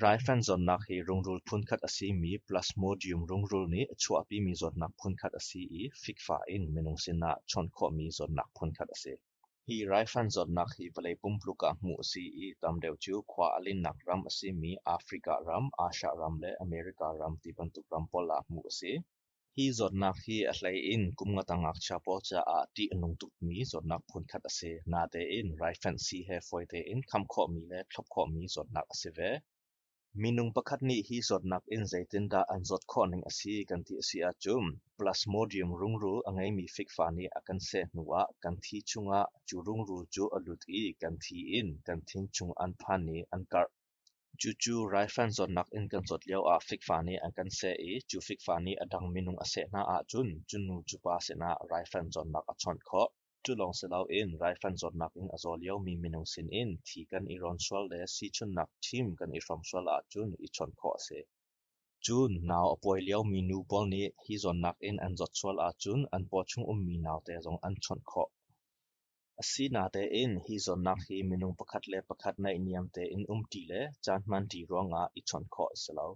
Raifan zawtnak hi rungrul phunkhat a simi Plasmodium rungrul nih a chuahpimi zawtnak phunkhat a si i fikfa in minung sinah a ṭhawn khawhmi zawtnak phunkhat a si. Hi raifan zawtnak hi vawlei pumpluk ah hmuh a si i tam deuh cu khua a linnak ram a simi Africa ram, Asia ram le America ram ti bantuk ram pawl ah hmuh a si. Hi zawtnak hi a hlei in kum nga tang ngakchia pawl caah ṭih a nung tukmi zawtnak phunkhat a si. Natein raifanh-si he fawi tein kham khawhmi le thlop khawhmi zawtnak a si ve. Minung pakhat nih hi zawtnak in zeitindah an zawt khawh ning a si kan ti a si ahcun plasmodium rungrul a ngeimi fikfa nih a kan seh hnuah kan thi chungah cu rungrul cu a lut i kan thi in kan thin chung an phan i an karh. Cucu raifan zawtnak in kan zawt lio ah fikfa nih an kan seh i cu fikfa nih a dang minung a seh hna ahcun cunu cupa sinah raifan zawtnak a chawnh khawh. Culawng si loin raifan zawtnak in a zaw liomi minung sinin thi kan i rawn sual le sichunnak thim kan i hrawm sual ahcun i chawnh khawh a si. Cun nau a pawi liomi nu pawl nih hi zawtnak in an zawt sual ahcun an paw chung ummi naute zong an chawnh khawh. Asi natein hi zawnnak hi minung pakhat le pakhat naihniam tein umṭi le caan hmanṭi ruangah i chawnh khawh a si lo.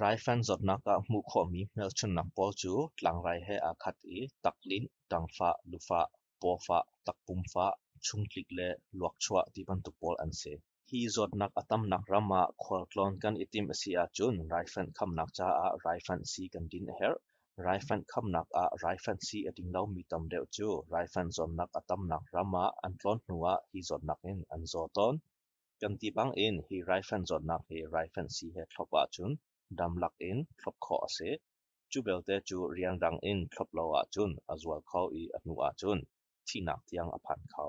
Raifanh zawtnak ah hmuh khawhmi hmelchunhnak pawl cu tlangrai he aa khat i taklinh, ṭangfah, lufah, pawfah, takpumfah, chungtlik le luakchuah ti bantuk pawl an si. Hi zawtnak a tamnak ram ah khualtlawn kan i timh a si ahcun raifanh khamnak caah raifanh si kan din a herh. Raifanh khamnak ah raifanh si a ding lomi tam deuh cu raifanh zawtnak a tamnak ram ah an tlawn hnu ah hi zawtnak in an zaw tawn. Kan ti bang in hi raifanh zawtnak hi raifanh si he thlop ahcun dam lak in thlop khawh a si. Cu belte cu rian dang in thlop lo ahcun a zual kho i a hnu ahcun thihnak tiang a phan kho.